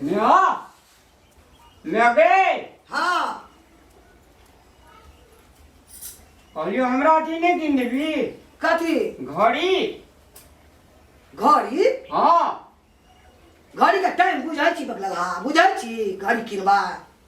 नेहा नेहा गे हाँ कहलियो हमरा अथी नहीं किन देबी कथी घड़ी घड़ी हाँ घड़ी के टाइम बुझै छी बगलगा बुझै छी घड़ी किनबा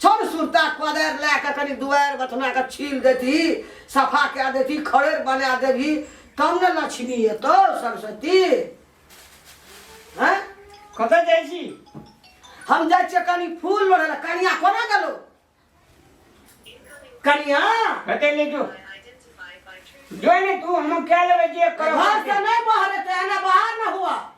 छन सुरता कोदारि लए कऽ कनि दुआरि बथनाके छील देती सफा कए देती खड़ेर बना देबही तब ने लक्ष्मी एतौ सरस्वती हैं कतऽ जाइ छी हम जाइ छियै कनि फूल लोढ़ै लए कनिया कोना गेलो कनिया कतऽ ले जो जो ने तू हम कए लेबै जे करब घर से नहीं बाहर है तो एना बाहर ना हुआ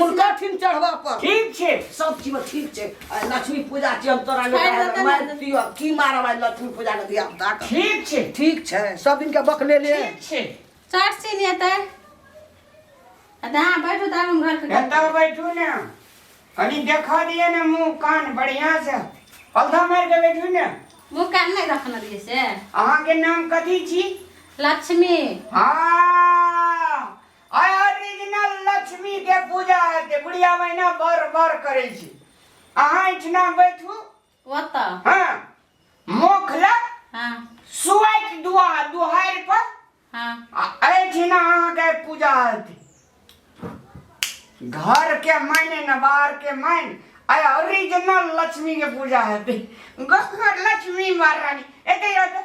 उनका ठीक चढ़बा पर ठीक छै सब चीज ठीक छै आ लक्ष्मी पूजा छै हम तोरा ले खाइ लए तऽ मारि नहि दियो की मारब आइ लक्ष्मी पूजा के दिया बता के ठीक छै ठीक छै सब दिन के बकले ले ठीक छै चट सीन हेतै आ तऽ अहाँ बैठू तऽ हम घर के काम एतऽ बैठू ने कनी देखा दिए ने मुंह कान बढ़िया से पौधा मारि के बैठू ने मुँह कान नहि रखने रहियै से अहाँके नाम कथी छी लक्ष्मी हाँ आय ओरिजिनल लक्ष्मी के पूजा हेतै बुढ़िया महीना बर बर करै छी अहाँ एहिठिना बैठू ओतऽ हँ मुख लग हँ सुआइत दुआ दुहारि पर हँ आ एहिठिना अहाँके पूजा हेतै घर के मायने न बाहर के मायने आय ओरिजिनल लक्ष्मी के पूजा हेतै घर लक्ष्मी महारानी एतै एतै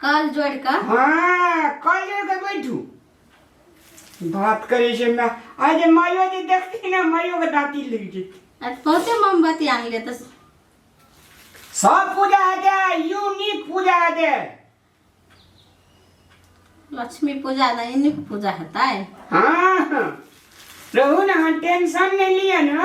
कल जोड़ का हाँ कल जोड़ के बैठू बात करे से मैं आज मायो जे देखती ना मायो के दांती लग जेती आज बहुते मोमबत्ती आन ले तो सब पूजा है जे यूनिक पूजा है जे लक्ष्मी पूजा ना इन्हीं की पूजा होता है हाँ हाँ। रहू ना हाँ, टेंशन नहीं लिया ना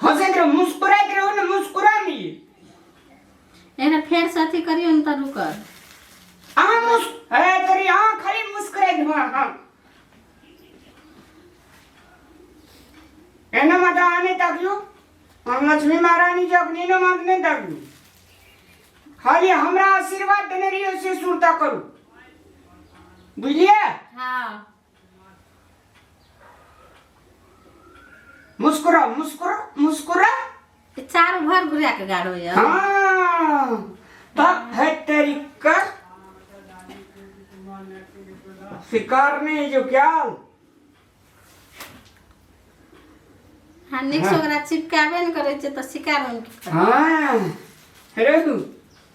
हो से एकरा मुस्कुराए के रहो ना मुस्कुरा ली एकरा फेर से अथी करियो न त रुक अहाँ मुस ए तोरी अहाँ खाली मुस्कुराए के हाँ हाँ एना माता आने तकलू हम लक्ष्मी महारानी जी अपनी ने मात नहीं तकलू खाली हमरा आशीर्वाद देने रहियो से सुरता करू बुझलिए हां मुस्कुरा मुस्कुरा मुस्कुरा ई चारू भर घुरा के गाड़ो यऽ हाँ तब है तेरी कर शिकार नहीं जो क्या हाँ निक से ओकरा चिपकाबे ने करै छै तऽ शिकार हम की करब? हाँ हेरे तू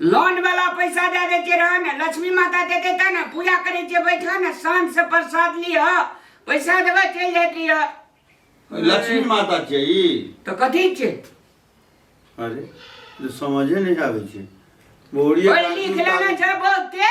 लोन वाला पैसा दे देते रह ने लक्ष्मी माता देते ता ने पूजा करे जे बैठा ने सांझ से प्रसाद लिह पैसा देबे चल जात रह लक्ष्मी माता छै ई तो कथी छै अरे जे समझे नहि आबै छै बोरिया ओए लिख लेना छै बहुते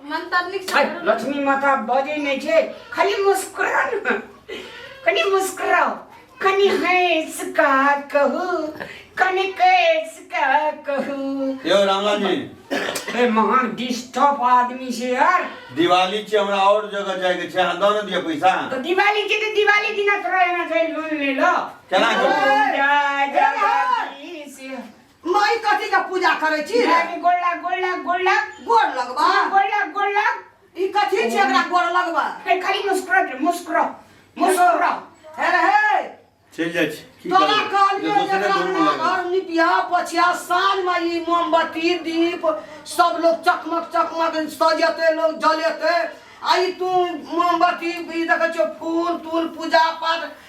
मंतरनिक छै हाय, लक्ष्मी माता बजे नहीं छे खाली मुस्कुरा न कनी मुस्कुराओ कनी हंस का कहू कनी कैस का कहू यो रामलाल जी ए महान डिस्टर्ब आदमी से यार दिवाली छै हमरा और जगह जाय के छै अहाँ दऽ न दिअ पैसा तो दिवाली के तो दिवाली दिना तोरा एना छै लोन ले लो केना के? पूजा जगदीश माई कथी के पूजा करे छी रे माई गोड़ लग गोड़ लग गोड़ लग गोड़ लगबा गोड़ लग गोड़ लग ई कथी छी एकरा गोड़ लगबा हे खाली मुस्कुरा रे मुस्कुरा मुस्कुरा हे रे हे चल जाय छी तोरा कहलिए एकरा ना घर निपिया पछिया साँझ में ई मोमबत्ती दीप सब लोग चकमक चकमक सजेते लोग जलेते आई तू मोमबत्ती ई देखे छो फूल तूल पूजा पाठ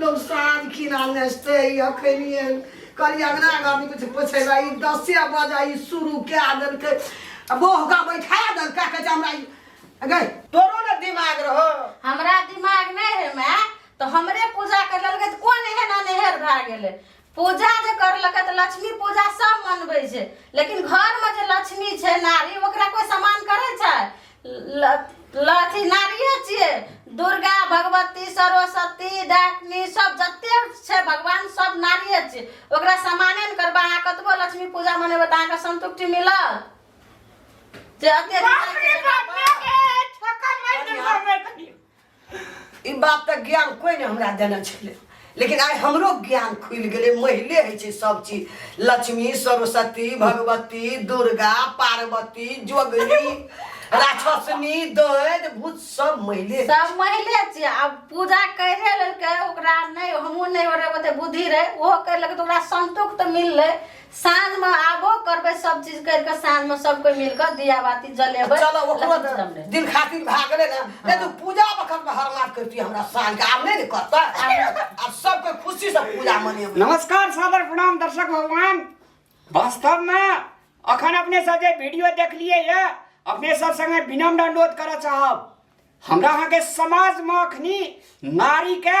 लोग साँझ खिना नचते अखनिए कल अंगना गामी कुछ पूछे ला ई दसे बजा ई शुरू कए देलकै आ बहुका बैठा देलकै कहै छै हमरा ई अगे तोरो ने दिमाग रहो हमरा दिमाग नहीं है माय तो हमरे पूजा कर लगे तो कौन एहन अनहेर भए गेले पूजा जे करलकै तऽ लक्ष्मी पूजा सब मनबै छै लेकिन घरमे जे लक्ष्मी छै नारी ओकरा कोई सम्मान करै छै अथी नारिये छियै दुर्गा भगवती सरस्वती डाकनी सब जते छै भगवान सब नारिये छियै ओकरा सम्माने नहि करबै अहाँ कतबो लक्ष्मी पूजा मनेबै तऽ अहाँके संतुष्टि मिलल जे अत्यधिक ई बात तऽ ज्ञान कोई ने हमरा देने छलै लेकिन आइ हमरो ज्ञान खुलि गेलै महिले होइ छै सब चीज लक्ष्मी सरस्वती भगवती दुर्गा पार्वती जोगनी राक्षसनी दैत भूत सब महिले सब महिले छियै आब पूजा करिए लेलकै ओकरा नहि हमहूँ नहि ओरे ओते बुद्धि रहै ओहो करि लेलकै तऽ ओकरा संतोष तऽ मिललै साँझ में आबो करबे सब चीज करके साँझ में सब कोई मिलकर दिया बाती जलेबे चलो ओकरो लक्ष्मी पूजा में। दिन खातिर भाग गेले ना नहीं तो पूजा वक्त में हर मात करती हमरा साल के आब नहीं ने करता अब सबके खुशी से पूजा मनेबे नमस्कार सादर प्रणाम दर्शक भगवान वास्तव में अखन अपने सब जे वीडियो देखलिए ये अपने सब संगे विनम्र अनुरोध करऽ चाहब हमरा अहाँके समाजमे अखनी नारीके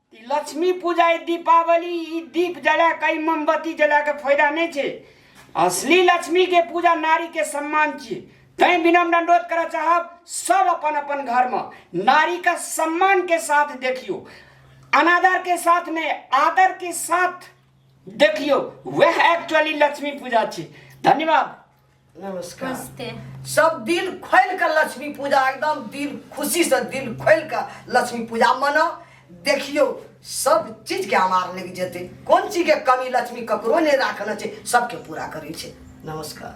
ई लक्ष्मी पूजा ई दीपावली ई दीप जला कई मोमबत्ती जला के फायदा नहीं छे असली लक्ष्मी के पूजा नारी के सम्मान छे तय विनम्र अनुरोध कर चाहब सब अपन अपन घर में नारी का सम्मान के साथ देखियो अनादर के साथ ने आदर के साथ देखियो वह एक्चुअली लक्ष्मी पूजा छे धन्यवाद नमस्कार नमस्ते सब दिल खोल के लक्ष्मी पूजा एकदम दिल खुशी से दिल खोल के लक्ष्मी पूजा मनाओ देखियो सब चीज के हमार लेके जेते कौन चीज के कमी लक्ष्मी ककरो नहीं राखना चाहिए सबके पूरा करे छे नमस्कार